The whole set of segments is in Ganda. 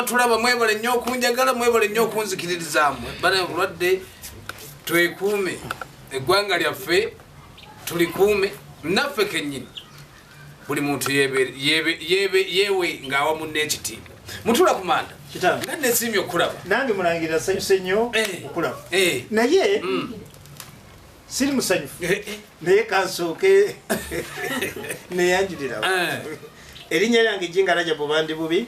tulaba mwebale nnyo okunjagala mwebale nnyo okunzikiririzaamu bana obulwadde twekuume eggwanga lyaffe tulikuume naffe kenyini buli muntu yewe ngaawa munna ekitiibwa mutula ku manda nga nesiimye okukulaba nange mulangirira sanyuse nnyo eh. okulaba eh. naye mm. siri musanyufu eh, naye kansooke neyanjulirawo erinnya lyange jinga rajabu bandi bubi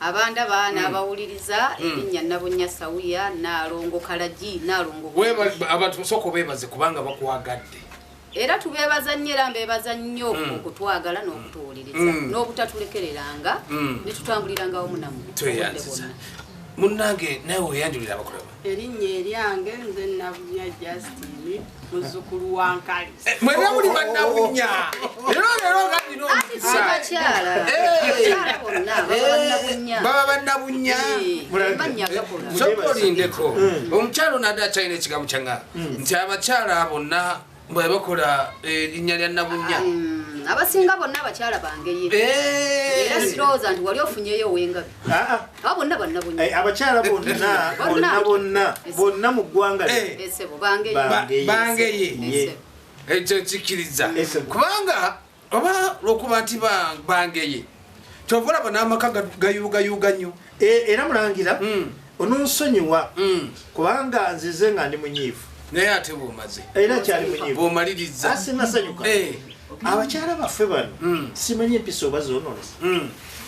abandaba hmm. n'abawuliriza hmm. erinnya nabunnya sawiya naalongo kalagi naalongo abantu musooka obeebaze kubanga bakwagadde era tubeebaza nnyo era mbeebaza nnyo hmm. okutwagala n'okutuwuliriza n'obutatulekereranga ne tutambuliranga wamu namwe munange nawe weyanjulira abakulaba erinnya eryange nze nabunya justin muzukulu wa nkali eh, mwena muli banabunya lero lero nga nina omukisababa banabunya sokolindeko omukyalo nade akyalina ekigambo kyanga nti abakyala bonna mwe bakola eh, linnya lya nabunya mm, abasinga bonna abakyala bangeyi eh. era sirowooza nti wali ofunyeyo owengabi ah, ah. aba bonna banabunya eh, abakyala bonnabonna bonna mu ggwanga bangeye ekyo kikkiriza kubanga oba lwokuba nti bangeye kyova olaba n'amaka gayuugayuuga nnyo e, era mulangira hmm. ononsonyiwa hmm. kubanga nzize nga ndi munyiivu naye ate bwomaze era kyali munyiivu bwomaliriza asinasanyuka eh. abakyala baffe bano hmm. simanyi empisa oba zononesa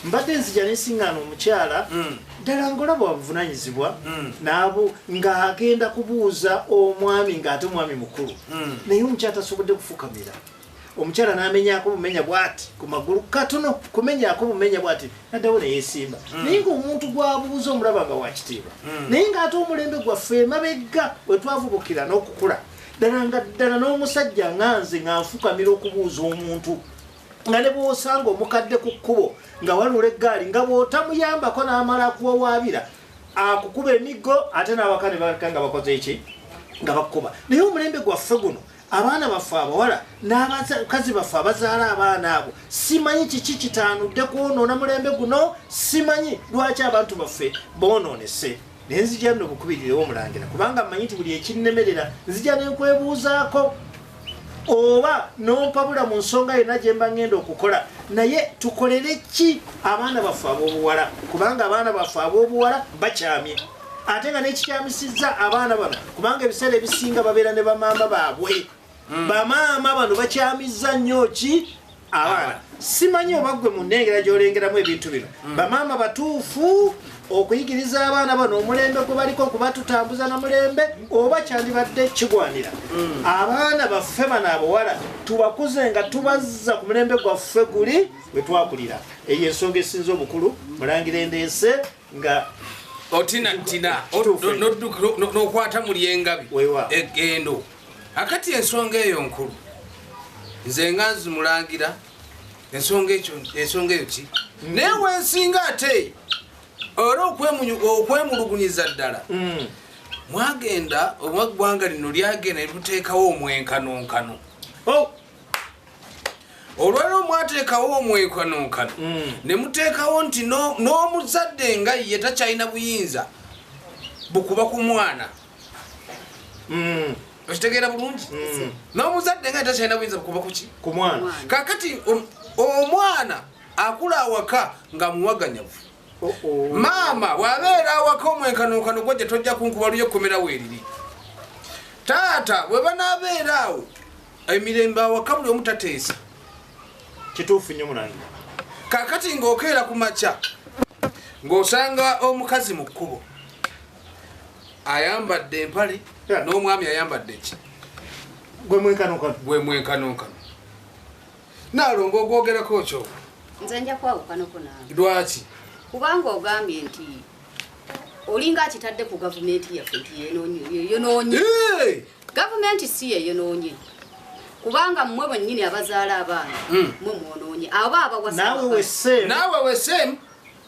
mbadde nzija nesiŋŋaana omukyala hmm. ddala ngola bwabuvunanyizibwa hmm. nabo ng'agenda kubuuza omwami ng'ate omwami mukulu hmm. naye omukyala tasobodde kufukamira omukyala namenyako bumenya bwati ku magulu katono kumenyako bumenya bwati naddawo neyesimba hmm. naye ngaomuntu gwabuuza omulaba nga wakitiibwa hmm. naye ngaate omulembe gwaffe emabegga wetwavubukira n'okukula ddala nga ddala n'omusajja nga nze nga nfukamira okubuuza omuntu nga ne bwosanga omukadde ku kkubo nga walula eggaali nga bwotamuyambako n'amala akuwawaabira akukuba emiggo ate n'awaka ne baleka nga bakoze eki nga bakukuba naye omulembe gwaffe guno abaana baffe abawala n'abakazi baffe abazaala abaana abo simanyi kiki kitaanudde kwonoona mulembe guno simanyi lwaki abantu baffe boonoonese naye nzija no bukubirirewo omulangira kubanga mmanyi nti buli ekinnemerera nzija ne nkwebuuzaako oba nompabula mu nsonga yonna gye mba ngenda okukola naye tukolere ki abaana baffe ab'obuwala kubanga abaana baffe ab'obuwala bakyamye ate nga nekikyamisizza abaana bano kubanga ebiseera ebisinga babeera ne bamaama baabwe hmm. bamaama bano bakyamizza nnyo ki abaana simanyi oba gwe mu nnengera gyolengeramu ebintu bino hmm. bamaama batuufu okuyigiriza abaana bano omulembe gwe baliko okuba tutambuza na mulembe oba kyandibadde kigwanira hmm. abaana baffe bano abawala tubakuze nga tubazza ku mulembe gwaffe guli wetwakulira eyo ensonga esinza obukulu mulangira endeese nga otina tina nokwata muli engabi egendo akati ensonga eyo nkulu nze nga nzimulangira ensonga ekyo ensonga eyo ki mm. naye wensinga ate ora okwemulugunyiza ddala mm. mwagenda omwaggwanga lino lyagenda netuteekawo omwenkanonkano oh! olwaliro mwateekawo omwekanonkano mm. ne muteekawo nti n'omuzadde nga ye takyalina buyinza bukuba ku mwana mm. okitegeera bulungi mm. n'omuzadde nga ye takyalina buyinza bukuba kuki ku mwana kakati um, omwana akula awaka nga muwaganyavu maama wabeera awaka omwenkanonkano gwo gye tojja kunkuba luyo ekkomera weeriri taata bwe banaabeera awo emirembe awaka buli omu tateesa kituufu nnyo mulangi kakati ng'okeera ku makya ng'osanga omukazi mu kkubo ayambadde empale n'omwami ayambadde ki gwe mwenkanonkano naalonga ogwogerako kyo nze nja kwawukanoko nawe lwaki kubanga ogambye nti olinga akitadde ku gavumenti yaffe nti yenoonye gavumenti si yeyonoonye kubanga mmwe bwennyini abazaala abaana hmm. mwe mwonoonye aba abawasnaawe wesem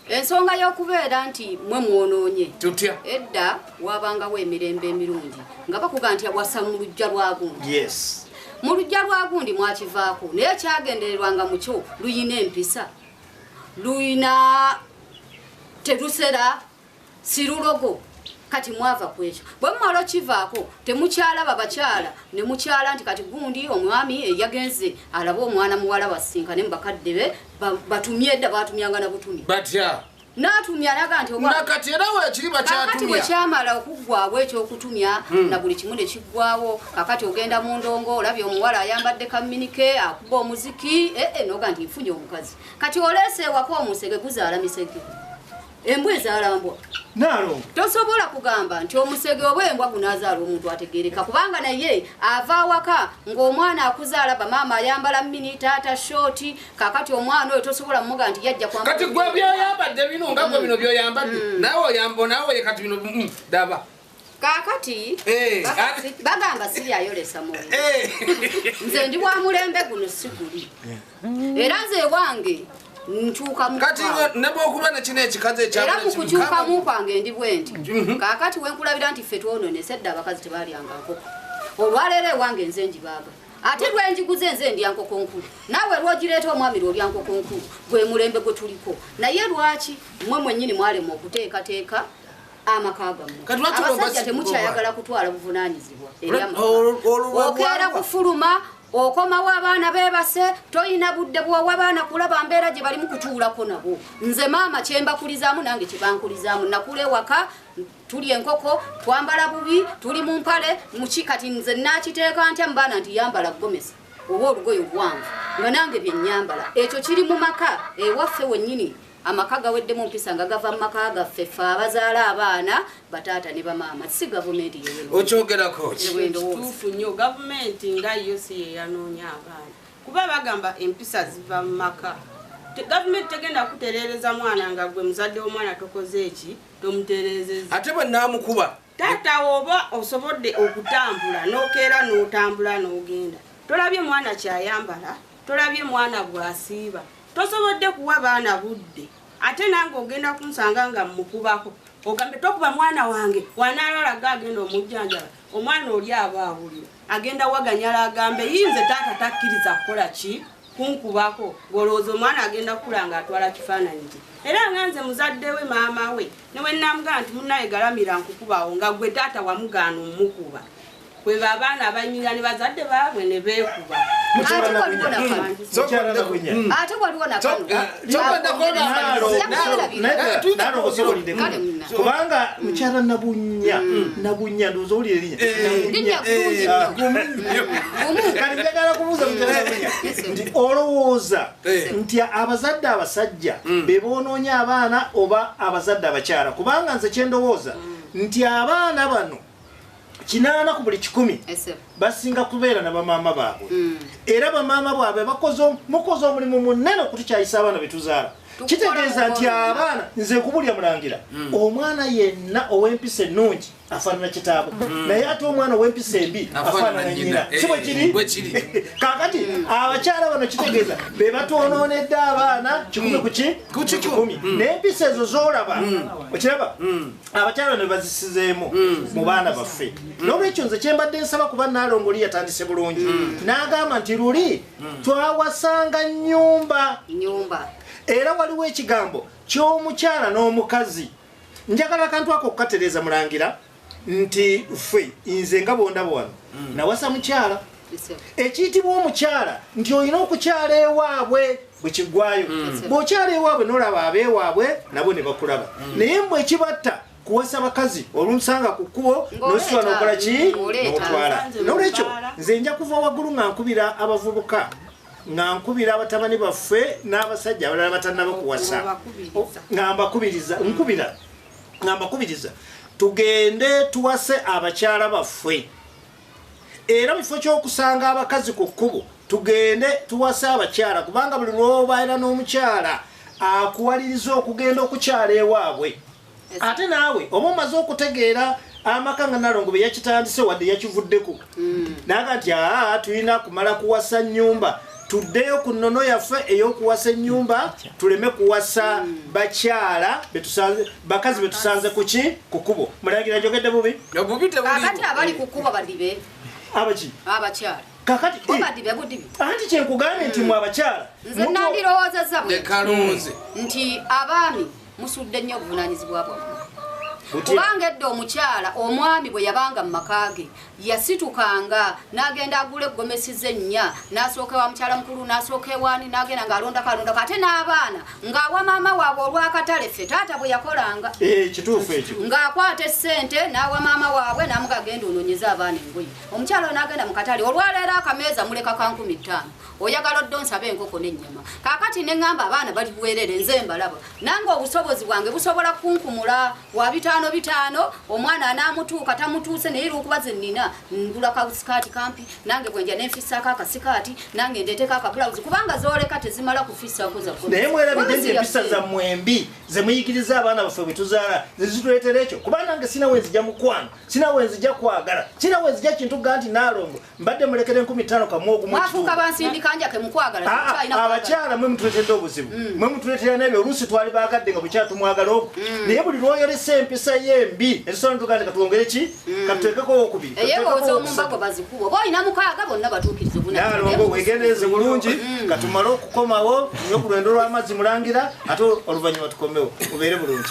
ensonga y'okubeera nti mwe mwonoonye tutya edda wabangawo emirembe emirungi nga bakuga nti awasa mu lujja lwagundi yes mu lujja lwagundi mwakivaako naye kyagendererwa nga mukyo luyina empisa luyina terusera sirulogo kati mwava kwekyo bwe mumala okivaako temukyalaba bakyala ne mukyala nti kati gundi omwami eyagenze alaba omwana muwala wasinkane mu bakadde be batumye edda batumyanga na butumi batya natumya naga nti nakati era wekiri bakyatumyakati wekyamala okuggwawo ekyokutumya hmm. na buli kimu ne kiggwawo kakati ogenda mu ndongo olabye omuwala ayambadde kaminike akuba omuziki ee eh, eh, noga nti nfunye omukazi kati oleese ewako omusege guzaala misege embwa ezaala mbwa nalo tosobola kugamba nti omusege oba embwa gunazaala omuntu ategereka kubanga naye ava awaka ng'omwana akuzaala bamaama ayambala mini taata shoti kakati omwana oyo tosobola muga nti yajja kati gwe byoyambadde bino nga gwe bino byoyambadde mm. nawe oyambo nawe kati bino mm, daba kakati eh, bagamba siri ayolesa mu eh. nze ndi wa mulembe guno siguli eh. era nze ewange kati nebwokuba nekino ekikazi ekyera mukukyukamu kwange ndi bwendi mhm. kakati wenkulabira nti ffe twononese edda abakazi tebalyanga nkoko olwaleero ewange nze njibaaga ate lwenjiguze nze ndya nkoko nkulu naawe lwogireeta omwami lwolya nkoko nkulu gwe mulembe gwe tuliko naye lwaki mwe mwenyini mwalema okuteekateeka amaka gammwe abasajja temukyayagala kutwala buvunanyizibwa okeera kufuluma okomawo abaana bebase toyina budde bwowa baana kulaba mbeera gye balimu kutuulako nabo nze maama kyembakulizaamu nange kyebankulizaamu nakula ewaka tuli enkoko twambala bubi tuli mu mpale muki kati nze nakiteeka ntya mubaana nti yambala gomesa oba olugoye oluwanvu nga nange byenyambala ekyo kiri mu maka ewaffe wennyini amaka gaweddemu mpisa nga gava mu maka gaffe fe abazaala abaana bataata ne bamaama si gavumenti yokyogerako-tuufu nnyo gavumenti nga yo si yeyanoonya abaana kuba bagamba empisa ziva mu maka gavumenti tegenda kutereereza mwana nga gwe muzadde w'omwana tokoze eki tomutereezeza ate bwe naamukuba Taata oba osobodde okutambula nokeera notambula nogenda tolabye mwana kyayambala tolabye mwana bwasiiba tosobodde kuwa baana budde ate nange ogenda kunsanga nga mukubako ogambe tokuba mwana wange wanalalaga agenda omujjanjala omwana oli aba awulira agenda waganyala agambe yinze taata takkiriza kukola ki kunkubako ng'olowooza omwana agenda kukula ng'atwala kifaananyi kye era nga nze muzadde we maama we ne bwe nnamugamba nti munnaye galamira nkukubawo nga gwe taata wamugaana omukuba kwe baabaana abayimirira ne bazadde baabwe ne beekuba ate waliwo nakano kubanga mukyala nabunya nabunya ndoza oli erinyakalibyagala kubuuza nti olowooza nti abazadde abasajja bebonoonya abaana oba abazadde abakyala kubanga nze kyendowooza nti abaana bano kinaana ku buli kikumi basinga kubeera na bamaama baabwe mm. era bamaama bwabwe mukoze omulimu munene okutukyayisa abaana betuzaala kitegeeza nti abaana nze kubulya mulangira mm. omwana yenna ow'empisa ennungi afaanana kitaabwe mm. naye ate omwana ow'empisa embi afaanana nyina eh, si bwe kiri kakati abakyala bano kitegeeza be batwonoonedde abaana kikumi ku ki kikumi n'empisa ezo z'olaba okiraba abakyala ne bazisizeemu mm. mu baana baffe mm. n'olwekyo nze kyembadde nsaba kuba naalongo oli yatandise bulungi mm. n'agamba nti luli twawasanga nyumba era waliwo ekigambo ky'omukyala n'omukazi njagala akantu ako okukatereeza mulangira nti ffe nze nga bondaba wano nawasa mukyala ekiyitibwa omukyala nti olina okukyala ewaabwe bwekiggwayo mm. bw'okyala ewaabwe n'olaba abeewaabwe nabo ne bakulaba mm. naye mbu ekibatta kuwasa bakazi olunsanga ku kkubo nositula nokola ki notwala nolwekyo nze nja kuva waggulu nga nkubira abavubuka nga nkubira abatabani baffe n'abasajja abalala batanaba kuwasa nga mbakubiriza nkubira nga mbakubiriza tugende tuwase abakyala baffe era mu kifo ky'okusanga abakazi ku kkubo tugende tuwase abakyala kubanga buli lwobaera n'omukyala akuwaliriza okugenda okukyala ewaabwe ate naawe oba omaze okutegeera amaka nga nalongo beyakitandise wadde yakivuddeko mm. naga nti aa tulina kumala kuwasa nyumba tuddeyo ku nnono yaffe ey'okuwasa ennyumba tuleme kuwasa bakyala bakazi be tusanze ku ki ku kkubo mulangira njogedde bubi kakati abali ku kkubo badibe abaki abakyala kakati badibe budibi anti kyenkugambye nti mwe abakyala nze nandirowoozezza bwe nti abaami musudde nnyo obuvunanyizibwa bwammwe kubanga edda omukyala omwami bwe yabanga mu maka ge yasitukanga n'agenda agula eggomesi ze nnya n'asooka ewa mukyala mukulu n'asooka ewaani n'agenda ng'alondako alondako ate n'abaana ng'awa maama waabwe olw'akatale ffe taata bwe yakolanga eh, kituufu ekyo ng'akwata essente n'awa maama waabwe n'amugagenda onoonyeza abaana engoye omukyala oyo n'agenda mu katale olwaleero akameeza muleka ka nkumi ttaano oyagala odde onsaba enkoko n'ennyama kaakati ne ŋŋamba abaana bali bwerere nze mbalaba nange obusobozi bwange busobola kunkumula wa bitaano bitaano omwana anaamutuuka tamutuuse naye lwokuba ze nnina ngula kasikaati kampi nange bwenja ne nfissaako akasikaati nange ndeeteko akabulawuzi kubanga zooleka tezimala kufissaako zakunaye mwerabidde nti empisa zammwe embi ze muyigiriza abaana baffe bwe tuzaala ze zituleetera ekyo kuba nange sina wenzija mukwano sina wenzija kwagala sina wenzija kintu ga nti naalongo mbadde mulekere nkumi tano kamwogumafuuka bansindika njake mukwagala ah, ah, abakyala mwe mutuletedde obuzibu mm. mwe mutuletera nebyo oluusi twali bagadde nga bukyala tumwagala oku mm. naye buli lwoyolesa empisa ye embi ensona tuganda katwongere ki mm. katutekeko owokubiri nalongo wegendereze bulungi katumale okukomawo nyo ku lwendo lw'amazzi mulangira ate oluvannyuma tukomewo ubeere bulungi